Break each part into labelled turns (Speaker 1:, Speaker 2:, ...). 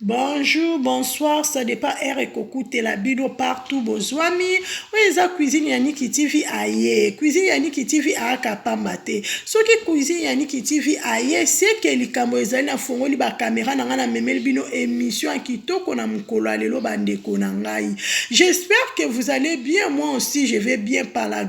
Speaker 1: Bonjour bonsoir ça depend heure ekokutela bino partout bozwami oyo eza cuisine ya Niki TV aye cuisine ya Niki TV ayaka pamba te soki cuisine ya Niki TV aye c'est que likambo ezali nafongoli ba camera na ngai namemeli bino emission ya kitoko na mokolo ya lelo bandeko na ngai j'espère que vous allez bien moi aussi je vais bien par la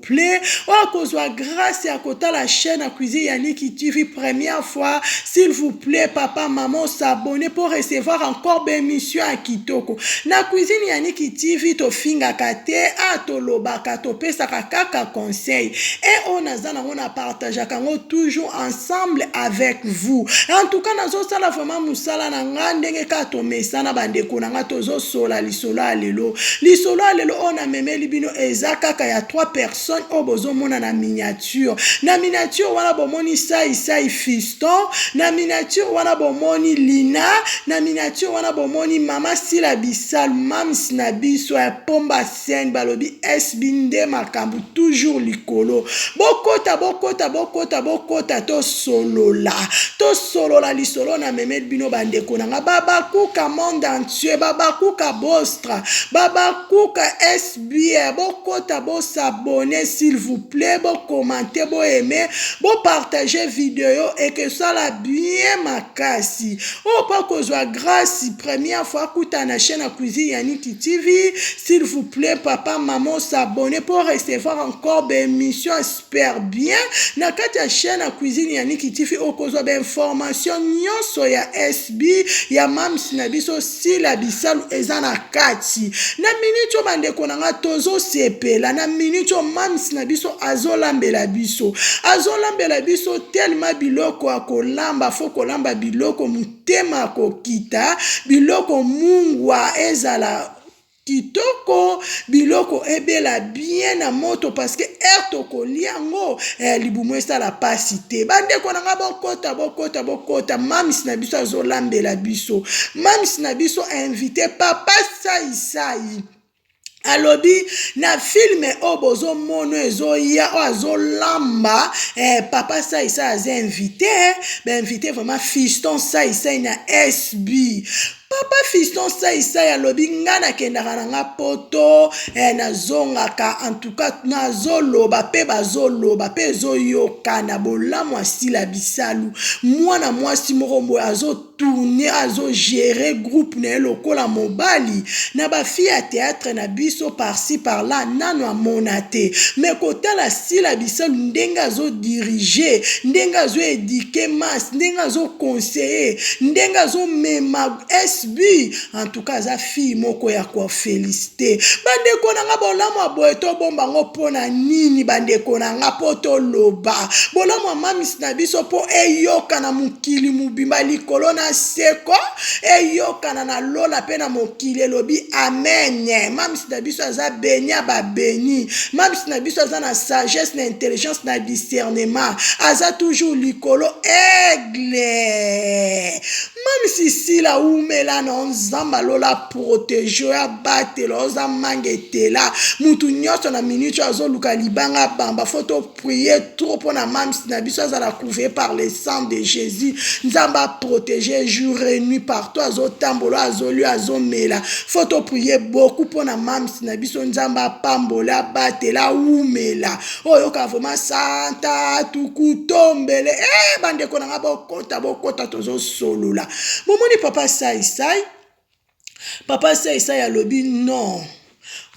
Speaker 1: plaît okozwa grace ya kotala chaîne ya cuisine ya Niki TV première fois s'il vous plaît papa maman s'abonner pour recevoir encore ba émission ya kitoko na cuisine ya Niki TV tofingaka te a tolobaka topesaka kaka conseil et oyo naza nango na partageaka yango toujours ensemble avec vous en tout cas nazosala vraiment mosala na nga ndenge kaka tomesana bandeko na nga tozosola lisolo ya lelo lisolo ya lelo oyo namemeli bino eza kaka ya trois personnes oyo bozomona na miniature na miniature wana bomoni saisai fiston na miniature wana bomoni lina na miniature wana bomoni mama sila bisalu mams na biso ya pomba sen balobi sb nde makambo toujours likolo bokota bokota bokota bokota tosolola tosolola lisolo namemeli bino bandeko na nga babakuka monde Monsieur Babakuka Bostra, Babakuka SBR, bokota bo s'abonner s'il vous plait, bo commenter, bo aimer, bo partager video ekesala bien makasi. Oyo pa kozwa grace première fois akuta na chaîne ya cuisine ya Niki TV, s'il vous plait papa maman s'abonner pour recevoir encore ba emissions super bien na kati ya chaîne ya cuisine ya Niki TV okozwa ba information nyonso ya SB ya mams na biso Sila Bisalu eza na kati na minute oyo bandeko na nga tozosepela na minute oyo mams na biso azolambela biso azolambela biso telema biloko ya kolamba fo kolamba biloko motema kokita biloko mungwa ezala Kitoko biloko ebela bien na moto parce que heure tokolia yango eh libumu esala pasi te ba ndeko na nga bokota bokota bokota mam's na biso azolambela biso mam's na biso invite papa sai sai alobi na filme oyo bozomono ezoya oyo azolamba eh, papa saisai aza invité bainvité vraiment fiston saisai na sb Papa fiston sai sai alobi nga na kendaka na nga poto eh, na zongaka en tout cas na zoloba pe bazoloba pe ezoyokana bolamu asila bisalu mwana mwasi moko boye azo tourne azo gere groupe na ye lokola mobali na ba fille ya theatre na biso par ci par là nanu amona te mais kotala sila bisalu ndenge azo dirige ndenge azo eduquer masse ndenge azo conseiller ndenge azo mema SB en tout cas aza fille moko ya ko felicite bandeko na nga bolamu ya boye to bomba ngo mpo na nini bandeko na nga mpo toloba bolamu ya mam's na biso mpo eyoka na mokili mobimba, likolo na nse, ko, eyokana na lola pe na mokili, elobi, Amen! Mam's na biso aza benie ya ba benies. Mam's na biso aza na sagesse, na intelligence, na discernement. Aza toujours likolo, Aigle! Mam's Sila, wumela na yo, Nzambe ya lola a proteger yo, abatela yo, oza mangetela. Mutu nionso, na minute oyo, azoluka libanga abamba, faut to. prier trop pona mam's na biso azala couvrir par le sang de Jésus nzambe a protéger jour et nuit partout azotambola azolio azomela faut to prier beaucoup pona mam's na biso nzambe apambola abatela awumela oyoka vraiment santa tukutombele eh bandeko na nga bokota bokota tozosolola bomoni papa sai sai Papa Saisai alobi non.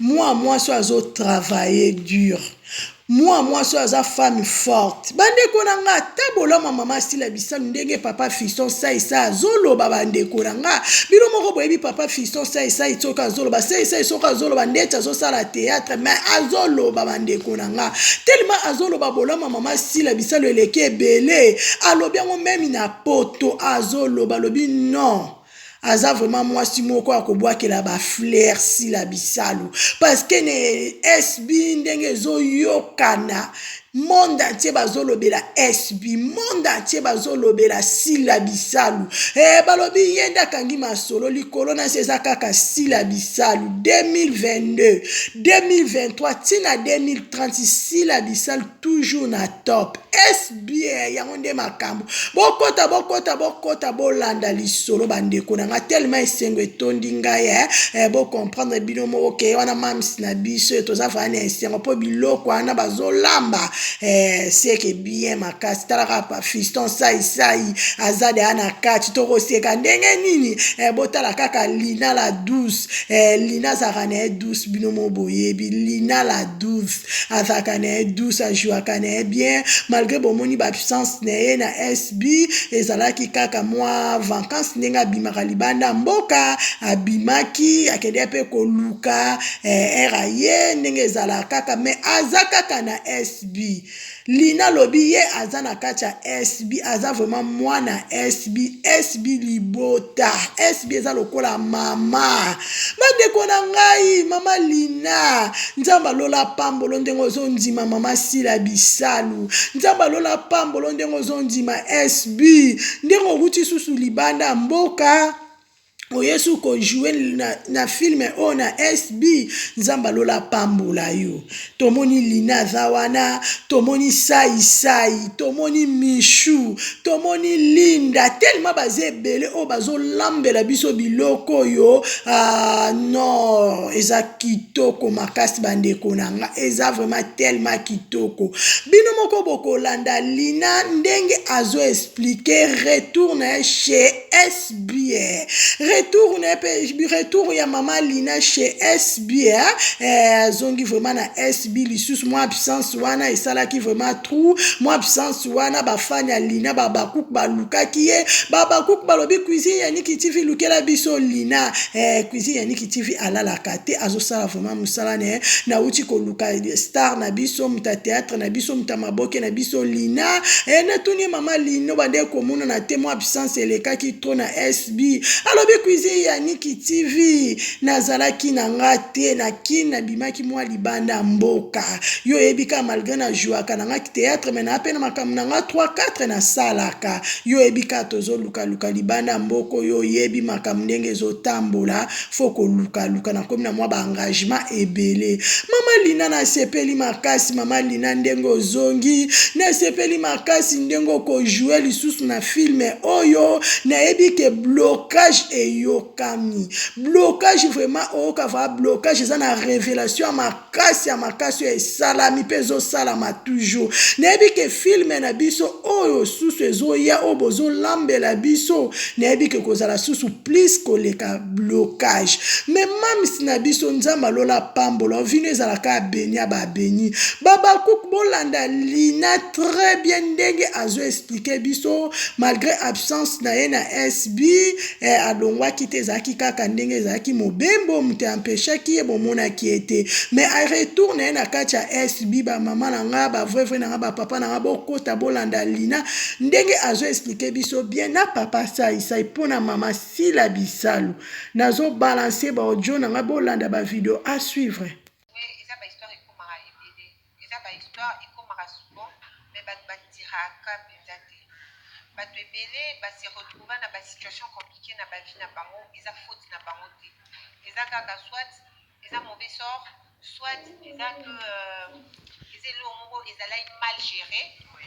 Speaker 1: Mwa mwasi oyo azo travailler dur. Mwa mwasi oyo aza femme forte. Bandeko na nga ata bolamu ya mama Sila Bisalu ndenge papa Fiston Saisai azo loba bandeko na nga bino moko boyebi papa Fiston Saisai soki azo loba Saisai soki azo loba ndeti azo sala theatre mais azo loba bandeko na nga tellement azo loba bolamu ya mama Sila Bisalu eleki ebele alobi yango meme na poto azo loba alobi non. Aza vraiment mwasi moko ya kobwakela ba flair sila bisalu parce que ne SB ndenge ezoyokana monde entier bazolobela SB monde entier bazolobela sila bisalu e balobi ye nde akangi masolo likolo na se eza kaka sila bisalu 2022 2023 ntina 2030 sila bisalu toujours na top sba yango nde makambo bokota bokota bokota bolanda lisolo bandeko na nga telema esengo etondi ngai eh, eh, bocomprendre bino moko ke wana mams na biso toza vraya na esengo mpo biloko wana bazolamba eh, seke bien makasi talaka pa fiston saisai aza deya na kati tokoseka ndenge nini eh, botala kaka lina la douce eh, lina azalaka na ye douce bino mo boyebi lina la douce azalaka na ye douce ajouaka na ye bien malgre bomoni baabsence na ye na SB ezalaki kaka mwa vancance ndenge abimaka libanda ya mboka abimaki akendeki mpe koluka eh, ere aye ndenge ezalaka kaka mais aza kaka na SB Lina alobi ye aza na kati ya SB aza vraiment mwana SB SB libota SB eza lokola mama bandeko na ngai mama Lina nzambe alola pambolo ndenge ozondima mama Sila Bisalu nzambe alola pambolo ndenge ozondima SB ndenge okuti susu libanda ya mboka oyesu ko joue na, na film oyo na SB nzambe alola apambola yo tomoni lina aza wana tomoni sai sai tomoni michou tomoni linda tellement baza ebele oyo bazolambela biso biloko oyo ah, non eza kitoko makasi bandeko na nga eza vraiment tellement kitoko bino moko bokolanda lina ndenge azo explique retour na ye chez SB retour na pe retour ya mama Lina chez SB hein? eh, azongi vraiment na SB lisusu mwa absence wana esalaki vraiment trou mwa absence wana bafani ya Lina babakuk balukaki ye babakuk balobi cuisine ya Niki TV lukela biso Lina eh, cuisine ya Niki TV alalaka te azosala vraiment mosala ne eh. nauti koluka star na biso muta théâtre na biso muta baboke na biso lina e, natuni ye mama lino bande komonana te mwa absence elekaki tro na sb alobi cuisine ya niki tv nazalaki na nga te na kin nabimaki mwa libanda ya mboka yo oyebi kaka malgre na jouaka na nga theatre me naa mpe na makambo na nga 3 4 nasalaka yo oyebi kaka tozolukaluka libanda ya mboka oyo oyebi makambo ndenge ezotambola faut koluka luka na komi na mwa ba engagement ebele mama lina nasepeli makasi mama lina ndenge ozongi nasepeli makasi ndenge okojoue lisusu na filme oyo nayebi ke blocage eyokami blocage vraiment oyoka va blocage eza na revelation ya makasi ya makasi oyo esalami mpe ezosalama toujours nayebi ke filme na biso oyo susu ezoya oyo bozolambela biso nayebi ke kozala susu plus koleka blocage me mamisi na biso nzambe alola pambola ovino ezalaka abeni ya babeni babakuk bolanda lina très bien ndenge azo explike biso malgré absence na ye na sb Ee, alongwaki te, ezalaki kaka ndenge ezalaki mobembo, moto empechaki ye, bomonaki ye te. Mais a retour na ye na kati ya SB, ba mama na nga, ba vrai vrai na nga, ba papa na nga, bokota bolanda Lina, ndenge azo expliquer biso bien na papa Sai Sai po na mama Sila Bisalu. Nazo balancer ba audio na nga, bolanda ba video a suivre. Eza ba histoire ekomaka souvent
Speaker 2: mais batu ba tiraka penza te. Batu ebele ba se retrouva na ba situation complique na ba vie na bango eza faute na bango te. Eza kaka soit eza mauvais sort soit eza que eza eloko moko ezalaki mal gere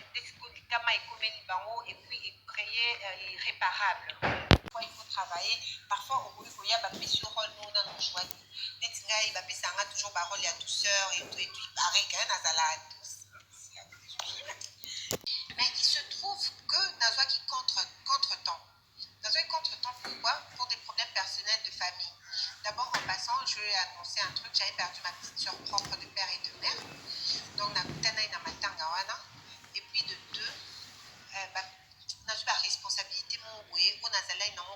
Speaker 2: nde sikoyo likama ekomeli bango et puis e cree l'irreparable. Parfois il faut travailler, parfois okoki koya ba pesi yo role moko nanu ojouaki. neti ngai bapesa nga toujours barole ya douceur etu etu ipareil kaye nazala douce mais il se trouve que nazwaki contre contre temps nazwaki contre temps pourquoi pour des problèmes personnels de famille d'abord en passant je vais annoncer un truc j'avais perdu ma petite soeur propre de père et de mère donc nakutanai na matanga wana et puis de deux euh, nazwi baresponsabilité moko boye oyo nazalaki nango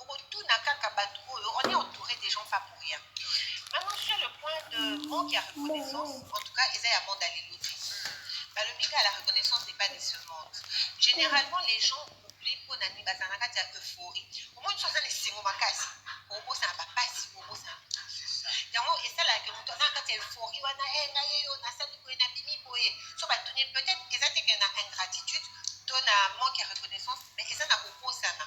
Speaker 2: Okotuna kaka batu oyo on est entoure des gens pas pour rien maintenant sur le point de manque ya reconnaissance en tout cas eza ya monde ya lelo te balobi kaka la reconnaissance n'est pas de ce monde généralement les gens oublient mpo na nini bazala na kati ya euphorie omoni so aza na esengo makasi obosana bapasi obosana yango esalaka moto aza na kati ya euphorie wana e ngai yeyo nasali boye nabimi boye so batuni peut-être eza te ke na ingratitude to na manque ya reconnaissance mais eza na kobosana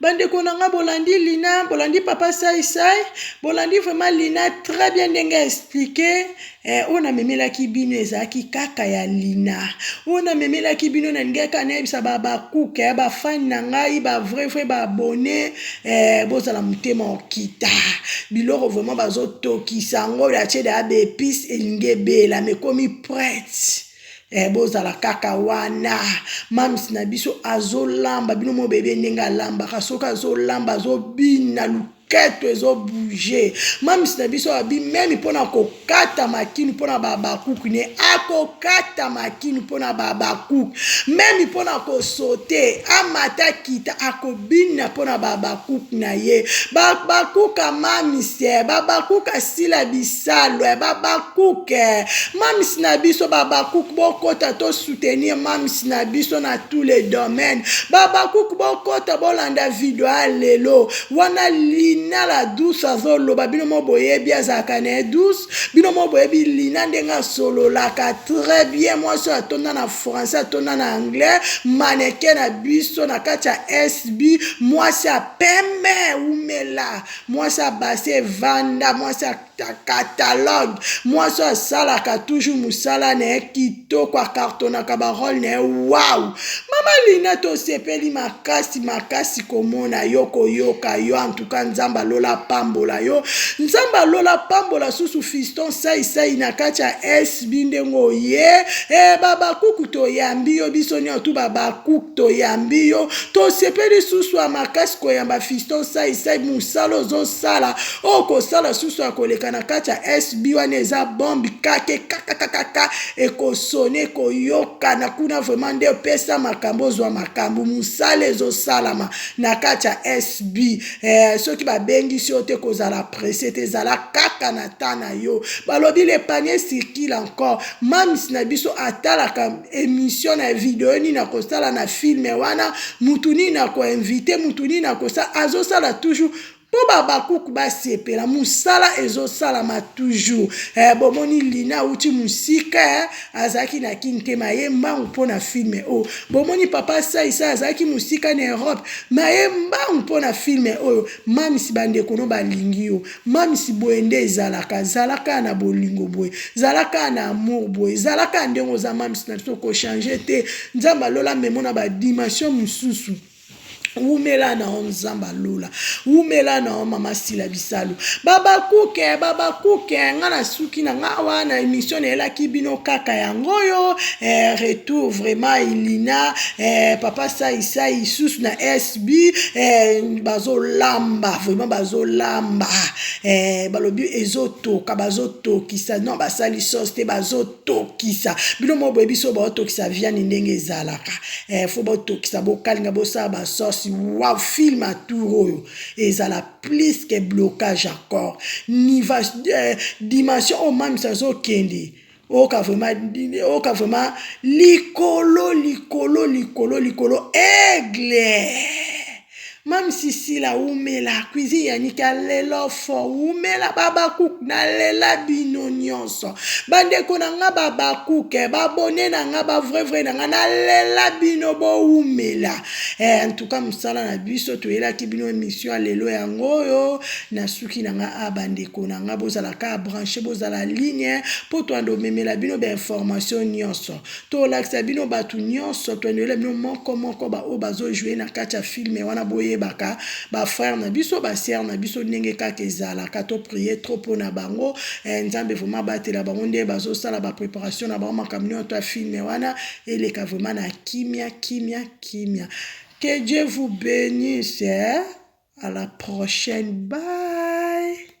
Speaker 1: Bandeko na nga bolandi Lina, bolandi Papa Sai Sai, bolandi vraiment Lina très bien ndenge a explique eh, oyo namemelaki bino ezalaki kaka ya Lina. Oyo namemelaki bino nalingaki kaka nayebisa ba bakuke ya bafani na ngai ba vrai vrai ba abonne eh, bozala motema okita biloko vraiment bazotokisa yango oyo atie da ya baepice elingi ebela mekomi prete Eh, bozala kaka wana mams na biso azolamba bino mo bebe ndenge alambaka soki azolamba azobina luketo ezobouge mams na biso abi meme mpo na kokata makini mpo na babakuki ne akokata makini mpo na babakuki meme mpo na kosote amata kita ako Bina mpo na ba habacuc na ye ba habacuc a mam's eh ba habacuc a sila bisalu eh ba habacuc eh mam's na biso ba habacuc bokota to soutenir mam's na biso na tous les domaines ba habacuc bokota bolanda video ya lelo wana lina la douce azoloba bino mo boyebi azalaka na ye douce bino mo boyebi lina ndenge asololaka très bien mwasi oyo atonda na français atonda na anglais maneke na biso na kati ya sb mwasi ya pembe umela mwasi ya base evanda mwasi ya catalogue mwasi oyo asalaka toujours mosala na ye kitoko akartonaka barole na ye wau mama lina tosepeli makasi makasi makasi komona yo koyoka yo antuka nzambe alola apambola yo nzambe alola apambola susu fiston saisai na kati ya sb ndenge oye e babakuku toyambi yo biso nyonso tu babakuk toyambi yo tosepeli susu ya makasi koyamba fiston saisai mosala ozosala oyo kosala susu ya koleka na kati ya sb wana eza bombe kake kakakakaka ekosone koyoka kana kuna vraiment nde opesa makambo ozwa makambo mosala ezosalama na kati ya sb eh, soki babengisi yo te kozala presse te ezala kaka na temps na yo balobi le panier circule encore mams na biso atalaka émission na video nini akosala na filme wana mutu nini akoinvite mutu nini akosa azosala toujours Mpo b'Habakuc basepela, mosala ezosalama toujours eh, bomoni Lina awuti mosika eh, azalaki na kin te maye mbangu mpo na film oyo, oh. bomoni papa Sai Sai azalaki mosika na Europe maye mbangu mpo na film oyo, oh. mamisi bandeko no balingi yo, mamisi boye nde ezalaka, zalaka na bolingo boye, zalaka na amour boye, zalaka ndenge oza mamisi na biso, ko changer te, Nzambe alola memo na ba dimension mosusu. wumela na yo nzambe alola wumela na yo mama sila bisalu babakuke babakuke nga nasuki na nga awa na emission nayelaki bino kaka yango oyo eh, retour vraiment ilina eh, papa saisai lisusu na sb eh, bazolamba vraiment bazolamba eh, balobi ezotoka bazotokisa non basali sos te bazo tokisa bino moko boyebi so baotokisa viande ndenge ezalaka eh, fo botokisa bokalinga bosala basosi wa film ya tour oyo ezala plus que blocage ya corps niva eh, dimension oyo mamisa azokende oyoka vraiment oyoka vraiment likolo likolo likolo likolo aigle Mamsi sila wumela cuisine ya niki alela fort wumela babakuk nalela bino nyonso bandeko na nga babakuk eh, babone na nga bavrai vrai na nga nalela bino bowumela eh, antuka mosala na biso toyelaki bino emission ya lelo yango oyo nasuki na nga a bandeko na nga bozala ka branche bozala ligne mpo toanda omemela bino bainformation nyonso Tolakisa bino batu nionso toiniola bino moko moko ba oyo bazo joue na kati ya film wana boyebaka ba frère na biso ba sœur na biso ndenge kaka ezalaka to prier trop pona bango eh nzambe vraiment abatela bango nde bazo sala ba preparation na bango makambo nionso ya film wana eleka vraiment na kimia kimia kimia que Dieu vous benisse eh à la prochaine bye